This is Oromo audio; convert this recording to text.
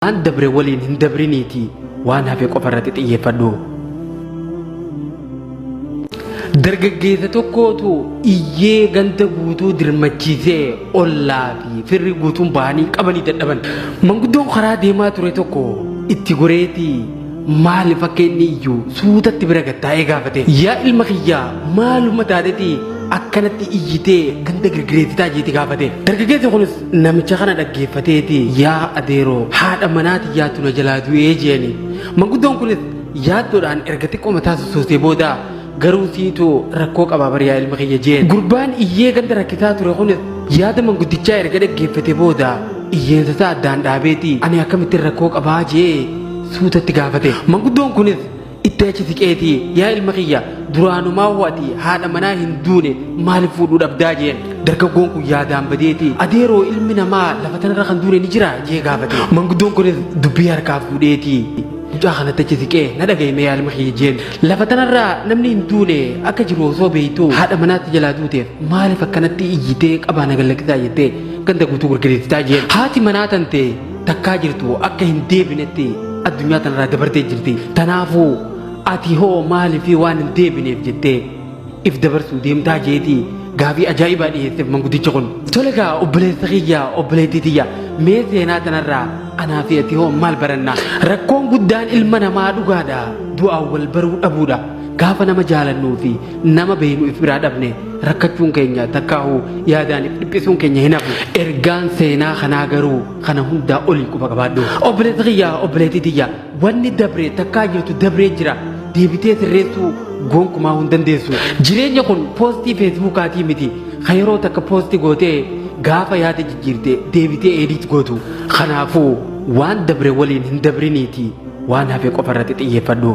Waan dabre waliin hin dabriniitii waan hafe qofa irratti xiyyeeffadhu. Dargaggeessa tokkootu iyyee ganda guutuu dirmachiisee ollaa fi firri guutuun bahanii qabanii dadhaban. Manguddoon karaa deemaa ture tokko itti goreetii maaliif akka inni iyyuu suutatti bira gattaa'ee gaafate. Yaa ilma kiyyaa maaluma taatetii akkanatti iyyitee ganda girgireessitaa jeeti gaafate. Dargaggeessi kunis Namicha kana dhaggeeffateeti yaa adeeroo haadha manaa tiyyaatu na jalaa du'ee jeeni. Manguddoon kunis yaaddoodhaan erga xiqqoo mataa sossoosee booda garuu siitu rakkoo qabaa bari yaa ilma kiyya jeen. Gurbaan iyyee ganda rakkisaa ture kunis yaada manguddichaa erga dhaggeeffate booda iyyeensa isaa addaan dhaabeeti ani akkamittiin rakkoo qabaa jee suutatti gaafate. Manguddoon kunis Itti achi siqeetii yaa ilma kiyya duraanumaa hoo ati haadha manaa hin duune maaliif fuudhuu dhabdaa jeen dargaggoon kun yaadaan badeeti adeeroo ilmi namaa lafa tanarra kan duune ni jira jee gaafate manguddoon kunis dubbii harkaa fuudheeti mucaa kanatti achi siqee na dhaga'ime yaa ilma kiyya jeen lafa tanarraa namni hin duune akka jiru osoo beektu haadha manaatti jalaa duuteef maaliif akkanatti iyyitee qabaa na gallakkisaa jettee ganda guutuu gurgurisitaa jeen haati manaa tantee takkaa jirtu akka hin deebinetti addunyaa tanarraa dabartee jirti tanaafuu ati hoo maaliif waan hin deebineef jettee if dabarsuu deemtaa jeetii gaabii ajaa'ibaa dhiyeesseef manguddichi kun tole gaa obboleessa kiyya obboleettii tiyya mee seenaa tanarraa anaa fi ati hoo maal baranna rakkoon guddaan ilma namaa dhugaadha du'aan wal baruu dhabuudha gaafa nama jaalannuu fi nama beeynu if biraa dhabne Rakkachuun keenya takkaahuu yaadaaniif dhiphisuun keenya hin hafu. Ergaan seenaa kanaa garuu kana hundaa oli quba qabaadhu. Obboleessa kiyya obboleettii tiyya wanni dabre takkaa jirtu dabree jira deebitee sirreessuu gonkumaa hin dandeessu. Jireenya kun poostii feesbuukaatii miti ka yeroo takka poosti gootee gaafa yaada jijjiirte deebitee eediit gootu. Kanaafuu waan dabre waliin hin dabriniitii waan hafe qofa irratti xiyyeeffadhu.